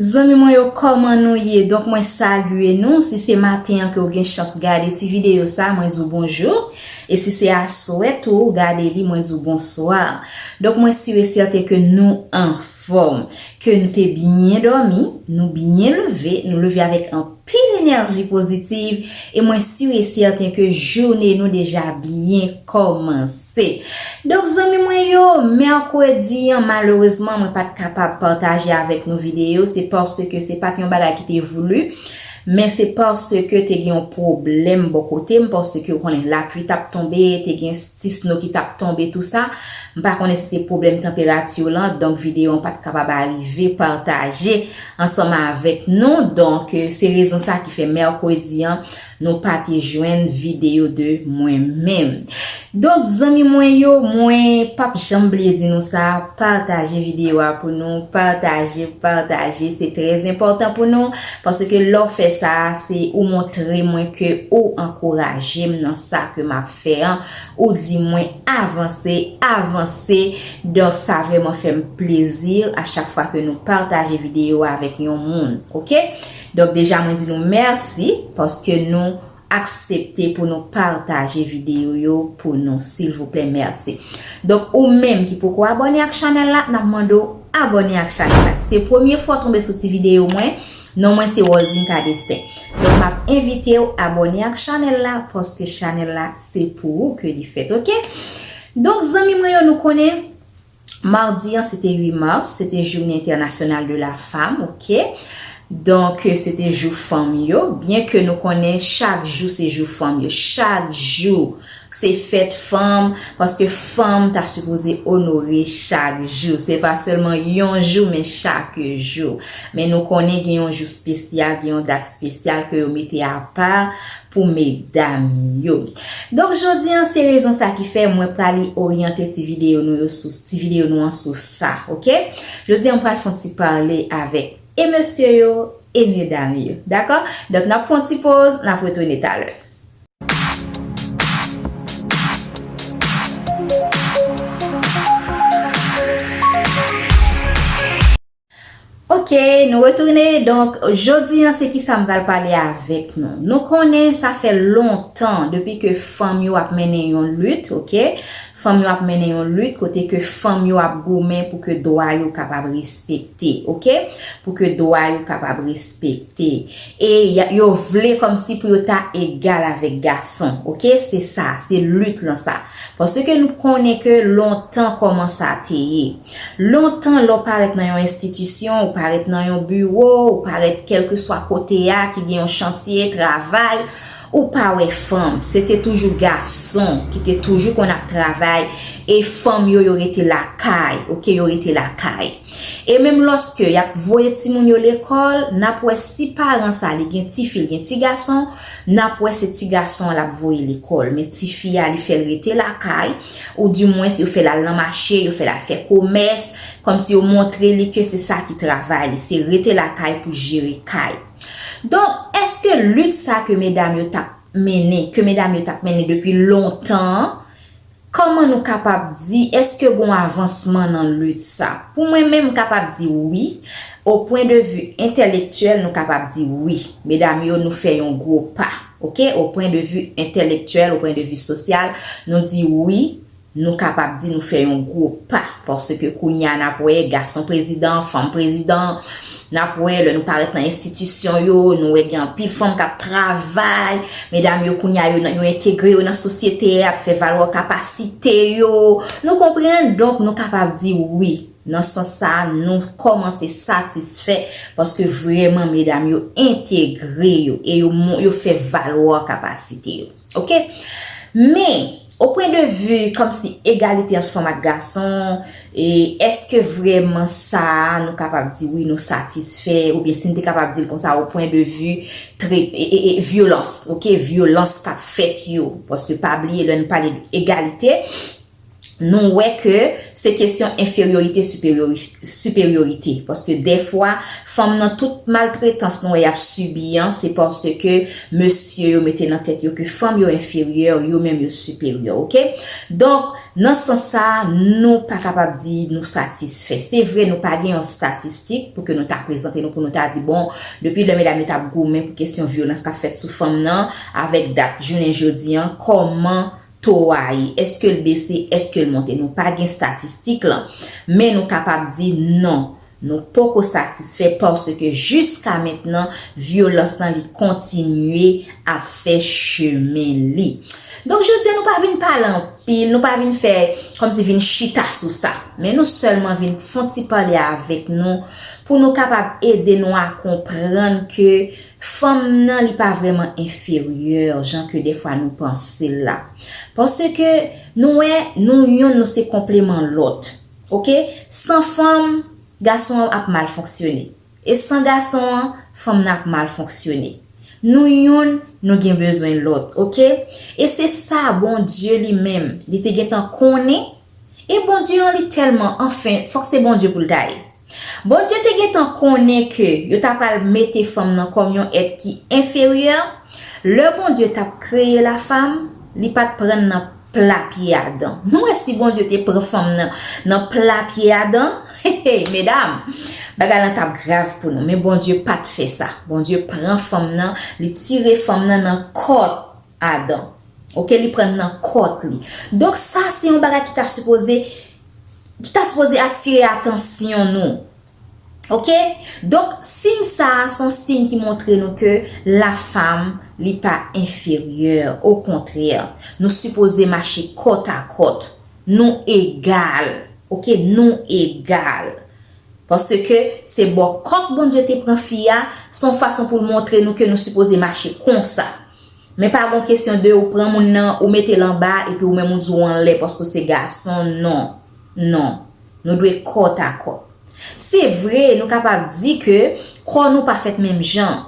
Zanmi mwen yo kòman nou ye donk mwen salye nou si se maten an ke ou gen chans gade ti videyo sa mwen di w bonjou e si se aswè tou ou gade li mwen di w bonswa donk mwen sur e sèten ke nou anfòm ke nou te byen dòmi nou byen leve nou leve avèk anpil enèji pozitiv e mwen sur e sèten ke joune nou deja byen kòmanse. C. Donk zanmi mwen yo, mèkredi an malerezman mwen pat kapab pataje avèk nou videyo, se paske se pat yon bagay ki te voulu, men se paske te gen yon pwoblèm bò kote m, paske ou konnen lapui tap tonbe, te gen ti snow ki tap tonbe tou sa, m pa konnen si se pwoblèm tanperature lan, donk videyo an pat kapab arive pataje ansanm avèk nou, donk se rezon sa ki fè mèkredi an. Nou pa te jwenn video de mwen menm. Donk zanmi mwen yo mwen pap janm bliye di nou sa pataje video a pou nou pataje pataje se trè enpòtan pou nou paske lè w fè sa se ou montre mwen ke ou ankouraje m nan sa ke map fè an ou di mwen avanse avanse donk sa vrèman fè m plezi a chak fwa ke nou pataje video a avèk yon moun ok. Donk deja mwen di nou mèsi paske nou aksepte pou nou pataje videyo yo pou nou silvouplè mèsi. Donk ou menm ki poko abòne ak chanèl la nap mande w abòne ak chanèl la. Si se premye fwa w tonbe sou ti videyo mwen, non mwen se Waldine Cadestin. Donk map envite w abòne ak chanèl la paske chanèl la se pou ou ke li fèt ok. Donk zanmi mwen yo nou konnen. Mardi an se te 8 mars, se te journée internationale de la femme ok, donk se te jou fanm yo, byen ke nou konnen chak jou se jou fanm yo, chak jou se fèt fanm, paske fanm ta sipoze onore chak jou, se pa sèlman yon jou men chak jou, men nou konnen gen yon jou spesyal, gen yon dat spesyal ke yo mete apa pou medam yo. Donk jodi an se rezon sa ki fè mwen prale oryante ti videyo nou yo sou ti videyo nou an sou sa ok. Jodi an m pral fon ti pale avèk e mesye yo e medam yo dakò. Donk nap pran yon ti poz nap retounen talè. Ok nou retounen donk jodi an se kisa m pral pale avèk nou. Nou konnen sa fè lontan depi ke fanm yo ap mennen yon lit ok, fanm yo ap mennen yon lit kote ke fanm yo ap goumen pou ke dwa yo kapab respekte ok, pou ke dwa yo kapab respekte e yo vle kòmsi pou yo ta egal avèk gason ok se sa se lit lan sa paske nou konnen ke lontan kòman sa te ye. Lontan lè w parèt nan yon enstitisyon, ou parèt nan yon biwo, ou parèt kèlkeswa kote a ki gen yon chantye, travay, ou pa wè fanm. Se te toujou gason ki te toujou konn ap travay e fanm yo yo rete lakay, ok, yo rete lakay. E menm lòske y ap voye timoun yo lekòl, n ap wè si paran sa li gen tifi, li gen tigason, n ap wè se tigason an l ap voye lekòl men tifi a li fè l rete lakay. Ou di mwens yo fè lal nan mache, yo fè lal fè komès, kòm si yo montre li ke se sa ki travay li, se rete lakay pou jere kay. Donk, èske lit sa ke medam yo tap mennen, ke medam yo tap mennen depi lontan an, kòman nou kapab di, èske gon avansman nan lit sa? Pou mwen menm, m kapab di wi, o pwen de vi entèlektyèl nou kapab di wi. Medam yo nou fè yon gwo pa. Ok, o pwen de vi entèlektyèl, o pwen de vi sosyal, nou di wi, nou kapab di nou fè yon gwo pa, paske kounye a n ap wè gason prezidan, fanm prezidan, n ap wè lè nou parèt nan enstitisyon yo, nou wè gen anpil fanm k ap travay, medam yo kounye a yo nan, yo entegre yo nan sosyete a, ap fè valwa kapasite yo, nou konprann, donk nou kapab di wi. Nan sans sa a, nou kòmanse satisfè paske vrèman medam yo entegre yo e yo fè valwa kapasite yo. Ok. Men, o pwen de vi kòmsi egalite ant fanm ak gason, e èske vrèman sa a nou kapab di wi nou satisfè oubyen si n te kapab di l konsa o pwen de vi e vyolans, ok, vyolans k ap fèt yo. Paske pa bliye lè nou pale egalite, nou wè ke se kesyon enferyorite siperyorite paske dèfwa fanm nan tout maltretans nou wè y ap sibi an se paske mesye yo mete nan tèt yo ke fanm yo enferyè yo menm yo siperyè ok donk nan sans sa nou pa kapab di nou satisfè se vre nou pa gen yon statistik pou ke nou ta prezante nou pou nou ta di bon depi lè medam yo t ap goumen pou kesyon vyolans k ap fèt sou fanm nan avèk dat jounen jodi an kòman To a e èske l bese, èske l monte. Nou pa gen statistik lan. Men nou kapab di non, nou poko satisfè paske jiska mentnan vyolans lan li kontinye ap fè chemen li. Donk jodi a nou pa vin pale anpil, nou pa vin fè kòmsi vin chita sou sa. Men nou sèlman vin fon ti pale avèk nou pou nou kapab ede nou a konprann ke. Fanm nan li pa vrèman enferyè jan ke dèfwa nou panse l la. Paske nou wè nou youn nou se konpleman lòt. Ok, san fanm, gason an ap mal fonksyone. E san gason an, fanm nan ap mal fonksyone. Nou youn nou gen bezwen lòt. Ok, e se sa Bondye li menm li te gentan konnen. E Bondye an li tèlman, anfen, fòk se Bondye pou l ta ye. Bondye te gentan konnen ke yo ta pral mete fanm nan kòm yon èt ki enferyè, lè Bondye t ap kreye lafam, li pa t pran n nan pla pye Adan. Nou wè si Bondye te pran fanm nan nan pla pye Adan, hey! medam, bagay lan t ap grav pou nou. Men Bondye pa t fè sa. Bondye pran fanm nan, li tire fanm nan nan kòt Adan. Ok, li pran n nan kòt li. Donk sa se yon bagay ki ta sipoze. ki ta sipoze atire atansyon nou. Ok? Donk, siy sa a son siy ki montre nou ke lafam li pa enferyè. Okontrè, nou sipoze mache kòt a kòt. Nou egal. Ok? Nou egal. Paske, se bò kòk Bondye te pran fi a, son fason pou l montre nou ke nou sipoze mache konsa. Men pa gon kesyon de ou pran moun nan ou mete l anba epi ou menm ou di w anlè paske w se gason non non nou dwe kòt a kòt se vre nou kapab di ke kò nou pa fèt menm jan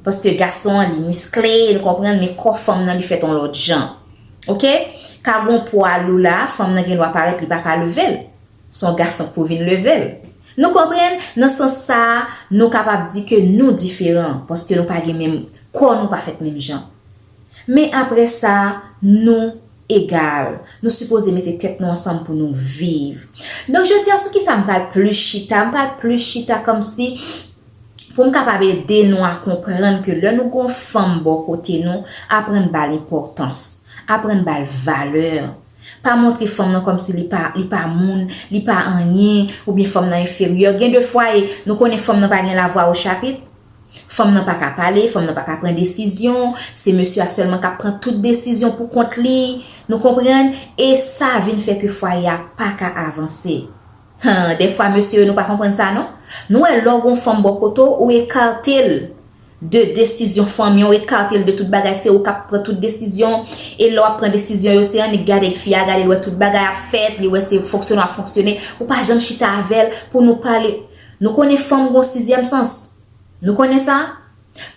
paske gason an li miskle nou konprann men kò fanm nan li fèt on lòt jan ok ka gon pwa lou la fanm nan gen dwa parèt li pa ka leve l Son gason k pou vin leve l. Nou konprann? Nan sans sa a, nou kapab di ke nou diferan, paske nou pa gen menm, kò nou pa fèt menm jan. Men apre sa, nou egal. Nou sipoze mete tèt nou ansanm pou nou viv. Donk jodi a sou kisa m pral plis chita? M pral plis chita kòmsi pou m kapab ede nou a konprann ke lè nou gen yon fanm bò kote nou, aprann ba l enpòtans. Aprann ba l valè. Pa montre fanm nan kòmsi li pa li pa moun, li pa anyen, oubyen fanm nan enferyè. Gen de fwa e nou konnen fanm nan pa gen lavwa o chapit. Fanm nan pa ka pale, fanm nan pa ka pran desizyon, se mesye a sèlman k ap pran tout desizyon pou kont li. Nou konprann? E sa vin fè ke fwaye a pa ka avanse. Huh defwa mesye yo nou pa konprann sa non Nou wè lè w gon fanm bò kote w ou ekarte l de desizyon fanmi an w ekarte l de tout bagay se ou k ap pran tout desizyon e lè w ap pran desizyon yo se annik gade l fi a gade l wè tout bagay ap fèt li wè se fonksyonan w ap fonksyone ou pa janm chita avè l pou nou pale nou konnen fanm gon sizyèm sans nou konnen sa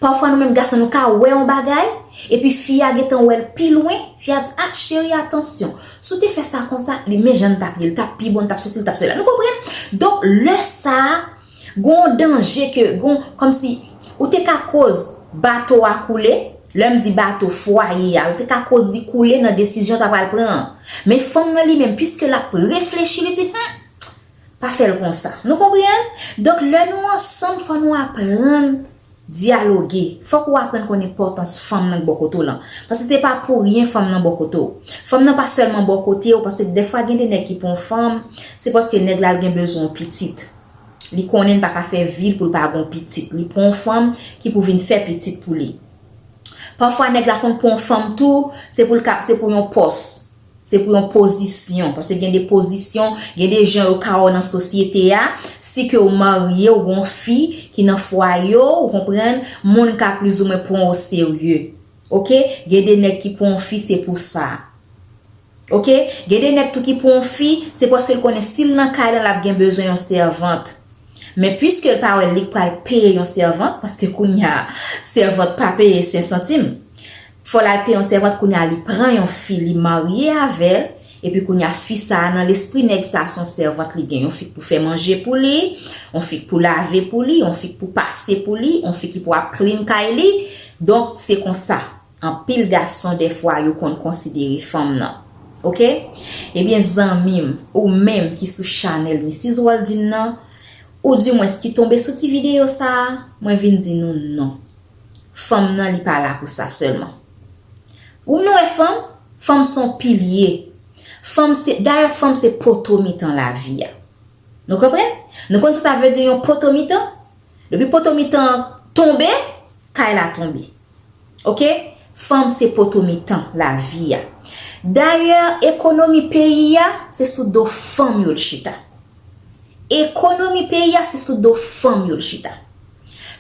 Pafwa nou menm gason nou ka wè yon bagay, epi fi a gentan wè l pi lwen, fi a di, a cheri atansyon, si w te fè sa konsa, li men jan l t ap ye, li t ap pi bon, li t ap sesi, li t ap sela. Nou konprann? Donk, lè sa a, gen yon danje ke, gen yon, kòmsi, ou te ka koz bato a koule, lè m di bato, fwaye a, ou te ka koz li koule nan desizyon w ta pral pran an. Men fanm nan li menm, piske l ap reflechi, li di, hum! Pa fè l konsa. Nou konprann? Donk lè nou ansanm fò nou aprann dyaloge. Fòk ou aprann konn enpòtans fanm nan k bò kote w lan. Paske se pa pou ryen fanm nan bò kote w. Fanm nan pa sèlman bò kote w paske dèfwa gen de nèg ki pran w fanm, se paske nèg la l gen bezwen w pitit. Li konnen l pa ka fè vi l pou l pa gen w pitit. Li pran w fanm ki pou vin fè pitit pou li. Pafwa nèg la konn pran w fanm tou, se pou l ka, se pou yon pòs. Se pou yon pozisyon. Paske gen de pozisyon, gen de jan yo ka wè w nan sosyete a. Si ke ou marye, ou gen yon fi ki nan fwaye w, ou konprann, moun ka plizoumwen pran w oserye. Ok? Gen de nèg ki pran yon fi se pou sa. Ok? Gen de nèg tou ki pran yon fi, se paske l konnen si l nan kay lan l ap gen bezwen yon sèvant. Men piske l pa wè li k pral peye yon sèvant, paske kounye a, sèvant pa peye sensantim. Fòl al peye yon sèvant kounya li pran yon fi li marye avèl epi kounya fi sa nan lespri nèg sa son sèvant li gen yon fi k pou fè manje pou li yon fi k pou lave pou li yon fi k pou pase pou li yon fi ki pou ap clean kay li donk se konsa anpil gason dèfwa yo konn konsidere fanm nan ok ebyen zanmim ou menm ki sou chanèl Missis Waldine nan ou di mwens ki tonbe sou ti videyo sa mwen vin di nou non. fanm nan li pa la pou sa sèlman. Ou vin wè fanm, fanm se yon pilye. Fanm se, dayè fanm se poto mitan lavi a. Nou konprann? Nou konn sa sa vle di yon poto mitan? Depi poto mitan an tonbe, kay la tonbe. Ok? Fanm se poto mitan lavi a. Dayè ekonomi peyi a, se sou do fanm yo l chita. Ekonomi peyi a se sou do fanm yo l chita.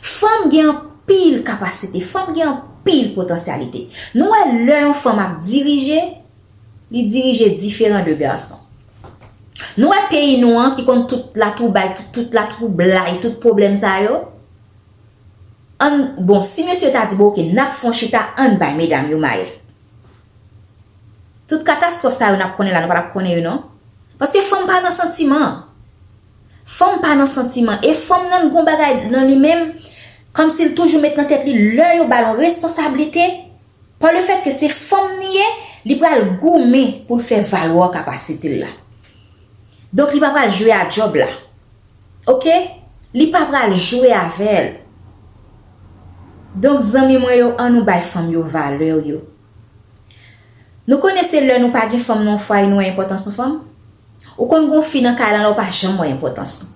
Fanm gen anpil kapasite, fanm gen anpil potansyalite. Nou wè lè yon fanm ap dirije, li dirije diferan de gason. Nou wè peyi nou an ki konn tout latwoubay, tout latwoublay, tout pwoblèm sa yo, ann, bon, si mesye ta di, bon oke, n ap fè yon chita, ann bay medam yo mayèt. Tout katastwòf sa yo n ap konnen la, nou pa t ap konnen yo non. Paske fanm pa nan santiman. Fanm pa nan santiman e fanm nan gon bagay nan li menm kòmsi l toujou met nan tèt li lè yo ba l yon responsablite pa le fèt ke se fanm li ye li pral goumen pou l fè valwa kapasite l la donk li pa pral jwe a djòb la ok li pa pral jwe avè l donk zanmi mwen yo an nou bay fanm yo valè yo. Nou konnen se lè nou pa gen fanm nan yon fwaye nou wè enpòtans yon fanm. Ou konn gen yon fi nan kay la la ou pa janm wè enpòtans li.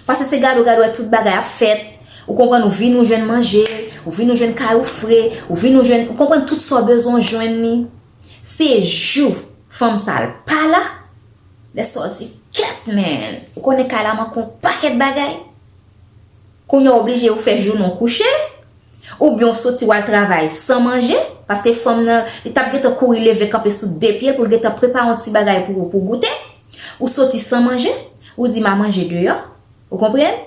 Pase se gade ou gade wè tout bagay ap fèt, ou konprann ou vini ou jwenn manje, ou vini ou jwenn kay ou fre, ou vini ou jwenn, ou konprann tout sa ou bezwen ou jwenn li. Se jou fanm sa l pa la, lè sa ou di kèt men, ou konnen kay la manke yon pakèt bagay. Kounya w oblije yo fè jounen w kouche, oubyen w soti w al travay san manje, paske fanm nan, li t ap gentan kouri leve kanpe sou de pye l pou l gentan prepare yon ti bagay pou ou pou w goute, ou soti san manje, ou di m a manje deyò, ou konprann?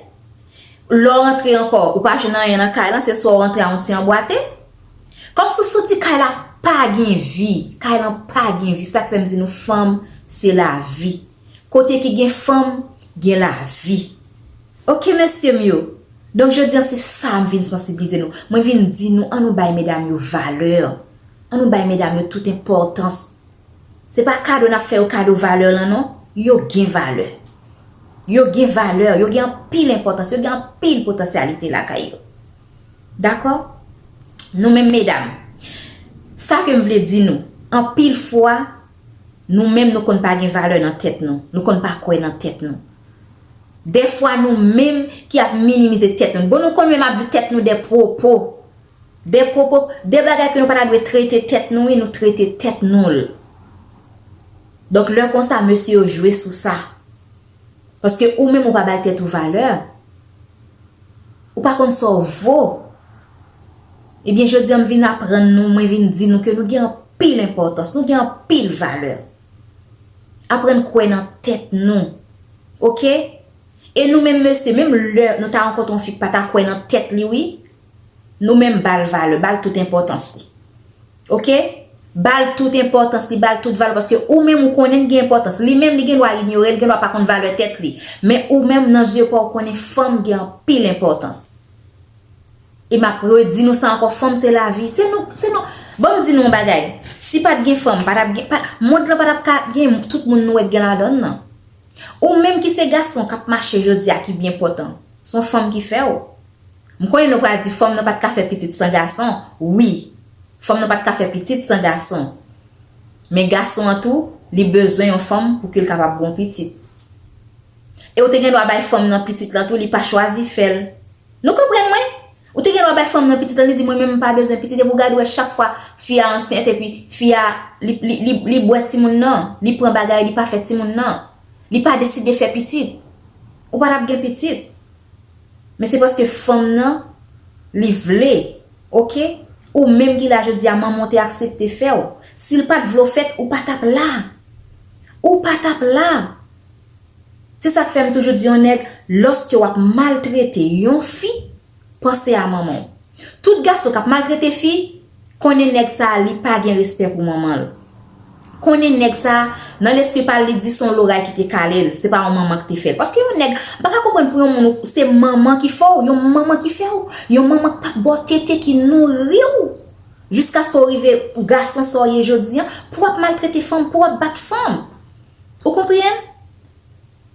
Lè w rantre ankò, ou pa jwenn anyen nan kay lan, se swa w rantre a yon ti anbwate. Kòmsi w santi kay la pa gen vi, kay lan pa gen vi, sa k fè m di nou fanm se lavi. Kote ki gen fanm gen lavi ok mesyem yo donk jodi an se sa m vin sansiblize nou mwen vin di nou an nou bay medam yo valè an nou bay medam yo tout enpòtans se pa kado nap fè yo kado valè lan non yo gen valè yo gen valè yo gen anpil enpòtans yo gen anpil potansyalite lakay yo dakò nou menm medam sa kem vle di nou anpil fwa Nou menm nou konn pa gen valè nan tèt nou. Nou konn pa kwè nan tèt nou. Dèfwa nou menm ki ap minimize tèt nou. Bon nou konn menm ap di tèt nou dè pwopo. Dè pwopo, dè bagay ke nou pa ta dwe trete tèt nou wi nou trete tèt nou l. Donk lè konsa mesye yo jwe sou sa. Paske ou menm ou pa bay tèt ou valè. Ou pa konn sa w vo. Ebyen jodi an m vin aprann nou, mwen vin di nou ke nou gen anpil enpòtans, nou gen anpil valè. Aprann kwè nan tèt nou. Ok? E nou menm mesye, menm lè nou ta rankontre yon fi k pa ta kwè nan tèt li wi, Nou menm bal valè, bal tout enpòtans li. Ok? Bal tout enpòtans li, bal tout valè paske ou menm ou konnen li gen enpòtans. Li menm li gen dwa inyore, li gen dwa pa konn valè tèt li. Men ou menm nan zye pa w konnen fanm gen anpil enpòtans. E m ap redi nou sa ankò, fanm se lavi. Se nou, se nou, ban m di nou yon bagay. Si pa t gen fanm, pa t ap gen, mond lan pa t ap ka gen tout moun nou wè k gen ladan l lan. Ou menm ki se gason k ap mache jodi a ki byen pòtan, s on fanm ki fè w. M konnen nou pral di fanm nan pat ka fè pitit san gason wi fanm nan pat ka fè pitit san gason men gason an tou li bezwen yon fanm pou ke l kapab gon pitit e ou te gen dwa bay fanm nan pitit lan tou li pa chwazi fè l nou konprann mwen ou te gen dwa bay fanm nan pitit lan li di mwen menm m pa bezwen pitit epi ou gad wè chak fwa fi a ansent epi fi a li bwè timoun nan li pran bagay li pa fè timoun nan li pa deside fè pitit ou pa tap gen pitit. Men se paske fanm nan li vle ok ou menm ki la jodia manmanw te aksepte fèw sil pat vle w fèt ou pa tap la ou pa tap la se sak fèm toujou di yon nèg loske wap maltrete yon fi panse a manmanw. Tout gason kap maltrete fi konnen nèg sa li pa gen respè pou manmanl konnen nèg sa nan lespri pal li di son loray ki te kalel se pa yon manman ki te fèl paske yon nèg m paka konprann pou yon moun ou se manman ki fè w yon manman ki fèw yon manman k tap baw tete ki nouriw jiskaske w rive gason sa w ye jodi an pou wap maltrete fanm pou wap bat fanm ou konprann.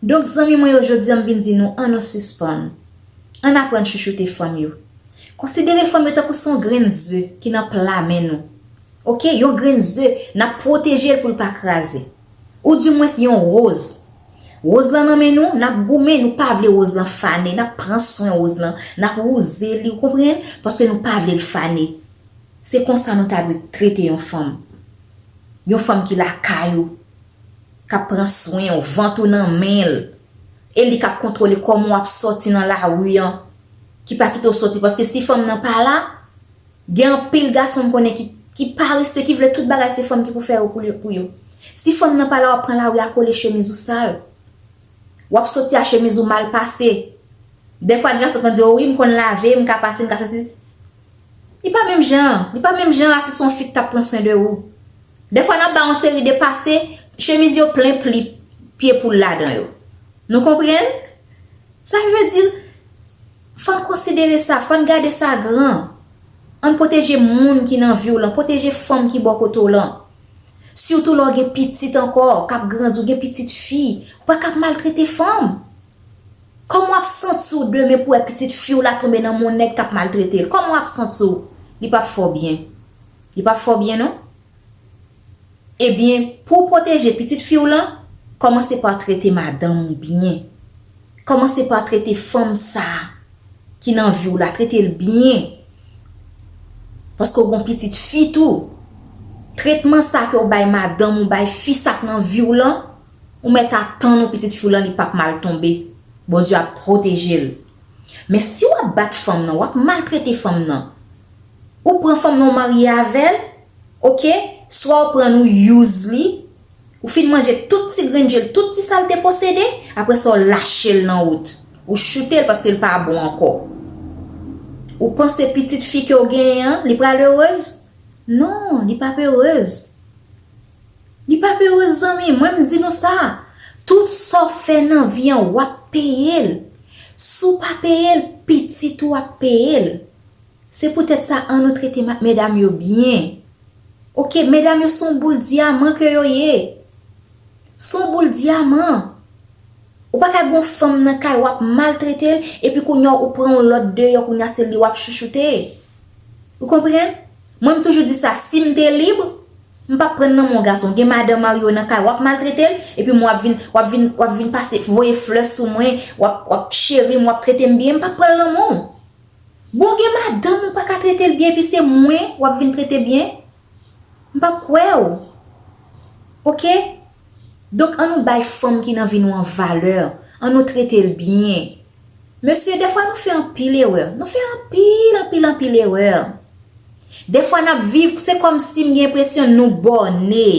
Donk zanmi mwen yo jodi an m vin di nou an nou sispann, an n aprann chouchoute fanm yo. Konsidere fanm yo tankou s on grenn ze ki nan pla men nou. Ok, yon grenn ze, n ap pwoteje l pou l pa kraze. Ou di mwens yon woz. Woz lan nan men nou, n ap goumen, nou pa vle woz lan fane, n ap pran swen woz lan, n ap wouze li, ou konprann, paske nou pa vle l fane. Se konsa nou ta dwe trete yon fanm. Yon fanm ki lakay ou. kap pran swen w, vant ou nan men l, e li kap kontwole kòman w ap sòti nan lari an, ki pa kite w sòti paske si fanm nan pa la, gen anpil gason m konnen ki parese, ki vle tout bagay se fanm ki pou fè yo pou yo. Si fanm nan pa la w ap pran lari a kole chemiz ou sal, w ap sòti a chemiz ou mal pase, dèfwa gen gason ki konn di w wi m konn lave, m ka pase, m ka fè si, Li pa menm jan an, li pa menm jan a si se yon fi ki t ap pran swen de ou. Dèfwa n ap bay yon seri de pase, chemiz yo plen pli pye poul ladan yo. Nou konprann? Sa vle di, fò n konsidere sa, fò n gade sa gran. An n pwoteje moun ki nan vi w lan, pwoteje fanm ki bò kote w lan. Sitou lè w gen pitit ankò k ap grandi, w gen pitit fi, ou pa ka ap maltrete fanm. Kòman wap santi w demen pou wè pitit fi w la tonbe nan men yon nèg kap maltrete l? Kòman wap santi w? Li pap fè w byen. Li pap fè w byen non. Ebyen, pou w pwoteje pitit fi w lan, kòmanse pa trete madanm ou byen. Kòmanse pa trete fanm sa a ki nan vi w la, trete l byen. Paske w gen yon pitit fi tou. Tretman sa a ke w bay madanm ou, bay fi sa k nan vi w lan. Ou mèt atann ou pitit fi w lan li pap mal tonbe Bondye ap pwoteje l men si wap bat fanm nan wap maltrete fanm nan ou pran fanm nan ou marye avè l ok swa ou prann ou use li ou fin manje tout ti grenn je l tout ti sa l te posede aprè sa w lache l nan wout ou choute l paske l pa bon ankò ou panse pitit fi ke w genyen an li pral heureuse non li pap heureuse. Li pa peureux zanmi, mwen m di nou sa, tout sa w fè nan vi an w ap peye l. Si w pa peye l, pitit ou ap peye l. Se poutèt sa an nou trete medam yo byen. Ok, medam yo se yon boul dyaman ke yo ye. Se yon boul dyaman. Ou pa ka gen yon fanm nan kay w ap maltrete l epi kounya ou pran yon lòt deyò kounya se li w ap chouchoute. Ou konprann? Mwen m toujou di sa si m te lib. M pap pran nan men yon gason gen madan marye w nan kay wap maltrete l epi mwen wap vin wap vin wap vin pase voye flè sou mwen wap wap cheri m wap trete m byen m pap pran l nan men w bon gen madanm ou paka trete l byen epi se mwen wap vin trete byen m pap kwè w ok. Donk an nou bay fanm ki nan vi nou an valè, an nou trete l byen. Mesye, dèfwa nou fè anpil erè, nou fè anpil, anpil, anpil erè. Dèfwa n ap viv, se kòmsi m gen enpresyon nou bòne,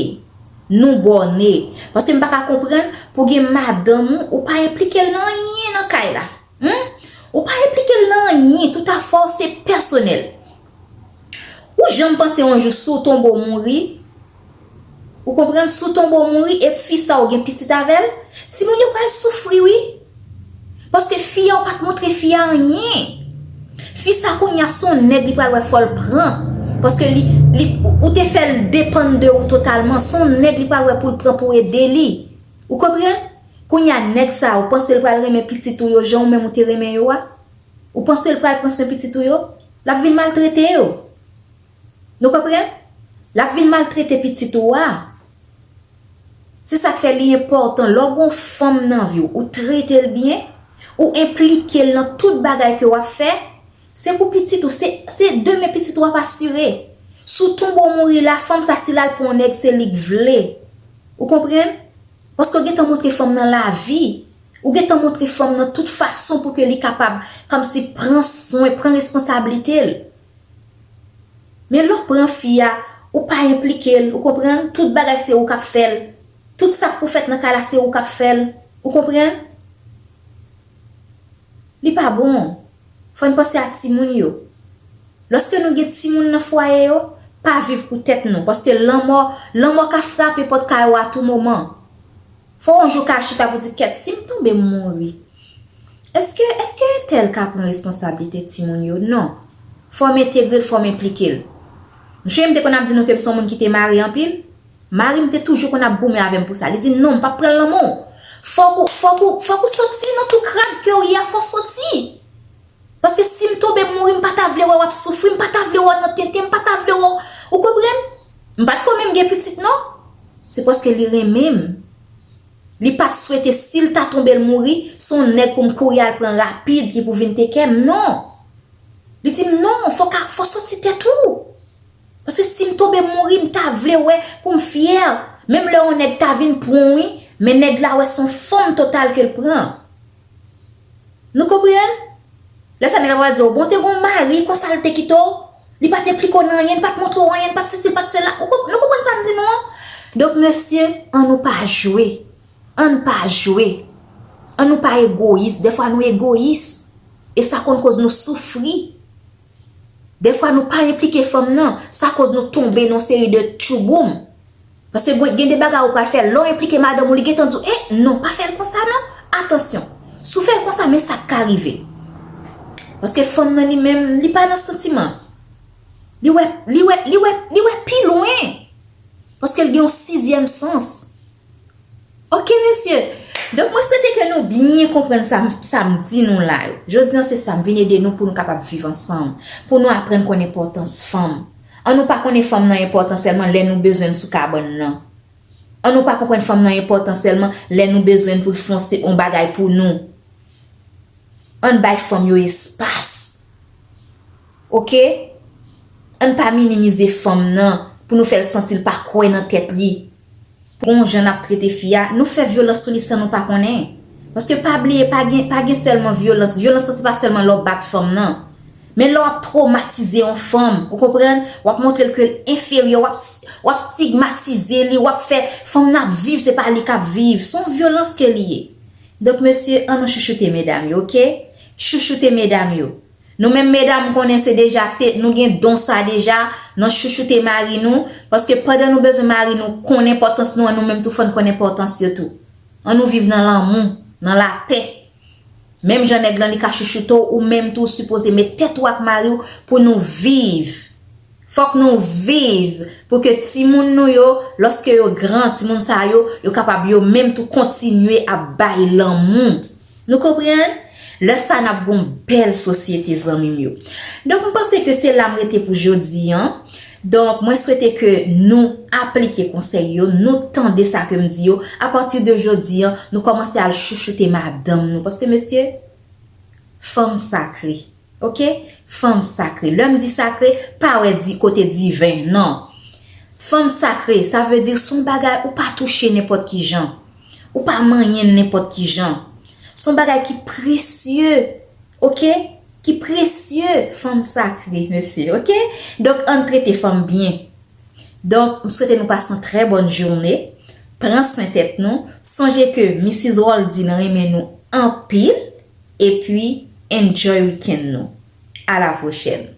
nou bòne. Paske m pa ka konprann pou gen madanm ou, ou pa enplike l nan anyen nan kay la. Humm ou pa enplikel nan anyen tout afè w se pèsonèl ou janm panse yon jou si w tonbe w mouri ou konprann si w tonbe w mouri e fi sa ou gen pitit avèl timoun yo pral soufri wi paske fi a ou pat montre fi a anyen fi sa kounya son nèg li pral wè fòl pran paske li li ou te fèl depann de ou totalman son nèg li pral wè poul pran pou ede li ou konprann. Kounye a nèg sa a ou panse l pral renmen pitit ou yo jan ou menm ou te renmen yo a? Ou panse l pral pran swen pitit ou yo? L ap vin maltrete yo. Nou konprann? L ap vin maltrete pitit ou a. Se sa k fè li enpòtan lè w gen yon fanm nan vi w, ou trete l byen, ou enplike l nan tout bagay ke w ap fè, se pou pitit ou, se demen pitit ou ap asire. Si w tonbe w mouri la, fanm sa a si l al pran yon nèg se li k vle. Ou konprann? Paske w gentan montre fanm nan lavi, ou gentan montre fanm nan tout fason pou ke li kapab kòmsi pran swen, pran responsablite l. Men lè w pran fi a, ou pa enplike l, ou konprann, tout bagay se ou k ap fè l, tout sa k pou fèt nan kay la se ou k ap fè l, ou konprann? Li pa bon. Fò n panse a timoun yo. Lòske nou gen timoun nan fwaye yo, pa viv pou tèt nou, paske lanmò, lanmò ka frape pòt kay ou a tou moman. Fò yon jou ka chita pou di kèt si m tonbe m mouri, èske, èske entèl ka pran responsablite timoun yo? Non. Fò m entegre l, fò m enplike l. M souye m te konn ap di nou ke m se yon moun ki te mare anpil. Mari m te toujou konn ap goumen avè m pou sa. Li di m, non, m p ap pran lanmò w. Fòk ou, fòk ou, fòk ou soti nan tou krad ke w ye a, fò w soti. Paske si m tonbe m mouri, m pa ta vle wè w ap soufri, m pa ta vle wè w nan tenten, m pa ta vle wè w, ou konprann? M pa t ko menm gen pitit non. Se paske li renmen m. Li pa t swete si l ta tonbe l mouri, se yon nèg pou m kouri al pran rapid ki pou vin teken m, non. Li di m, non, fòk a, fò w soti tèt ou. Paske sim tonbe mouri m ta vle wè poum fyè menm lè yon nèg ta vin pranw wi men nèg la wè son fanm total kel pran Nou konprann Lè sa nèg la pral diw bon te gon mari konsa l te kitew li pat enplike w nan anyen li pat montre w anyen li pat sesi li pat sela Nou konprann sam di nou an Donk mesye an nou pa jwe ann pa jwe an nou pa egoyis dèfwa nou egoyis e sa konn koz nou soufri. Dèfwa nou pa enplike fanm nan, sa koz nou tonbe nan yon seri de tchouboum. Paske gen de bagay ou pral fè, lè w enplike madanm ou li gentan di w, eh non pa fè l konsa non, atansyon. Si w fè l konsa men sa k ka rive. Paske fanm nan li menm, li pa nan santiman. Li wè, li wè, li wè, li wè pi lwen. Paske l gen yon sizyèm sans. Ok mesye, donk mwen swete ke nou byen konprann sa m di nou la yo. Jodi an se sa m vin ede nou pou nou kapab viv ansanm, pou nou aprann konn enpòtans fanm. An nou pa konnen fanm nan enpòtan sèlman lè nou bezwen l sou kabann nan. An nou pa konprann fanm nan enpòtan sèlman lè nou bezwen l pou l fon on bagay pou nou. Ann bay fanm yo espas. Ok? Ann pa minimize fanm nan pou nou fè l santi l pa kwè nan tèt li. Pon jan nap trete fi a nou fè vyolans sou li san nou pa konnen paske pa bliye pa gen pa gen sèlman vyolans vyolans lan se pa sèlman lè w bat fanm nan men lè w ap twomatize yon fanm ou konprann w ap montre l ke l enferyè w ap w ap stigmatize li w ap fè fanm nan ap viv se pa li kap viv s on vyolans ke li ye donk mesye an nou chouchoute medam yo ok chouchoute medam yo. Nou menm medam m konnen se deja se nou gen don sa deja nan chouchoute mari nou paske pandan nou bezwen mari nou konn enpòtans nou an nou menm tou fò n konn enpòtans yo tou an nou viv nan lanmou nan lapè menm jan nèg lan li ka chouchoute w ou menm tou w sipoze met tèt ou ak mari w pou nou viv fòk nou viv pou ke timoun nou yo lòske yo gran timoun sa yo yo kapab yo menm tou kontinye ap bay lanmou. Nou konprann? Lè sa nap gon bèl sosyete zanmim yo. Donk m panse ke se la m rete pou jodi an. Donk mwen swete ke nou aplike konsèy yo, nou tande sa ke m di yo, a pati de jodi an, nou kòmanse al chouchoute madanm nou paske mesye fanm sakre. Ok fanm sakre lèm di sakre pa wè di kote diven nan fanm sakre sa vle di son bagay ou pa touche nenpòt kijan ou pa manyen nenpòt kijan son bagay ki presye ok ki presye fanm sakre mesye ok donk ann trete fanm byen donk m swete nou pase yon trè bòn joune pran swen tèt nou sonje ke Missis Roldy nan renmen nou anpil. Epi enjoy weekend nou. A la pwochèn.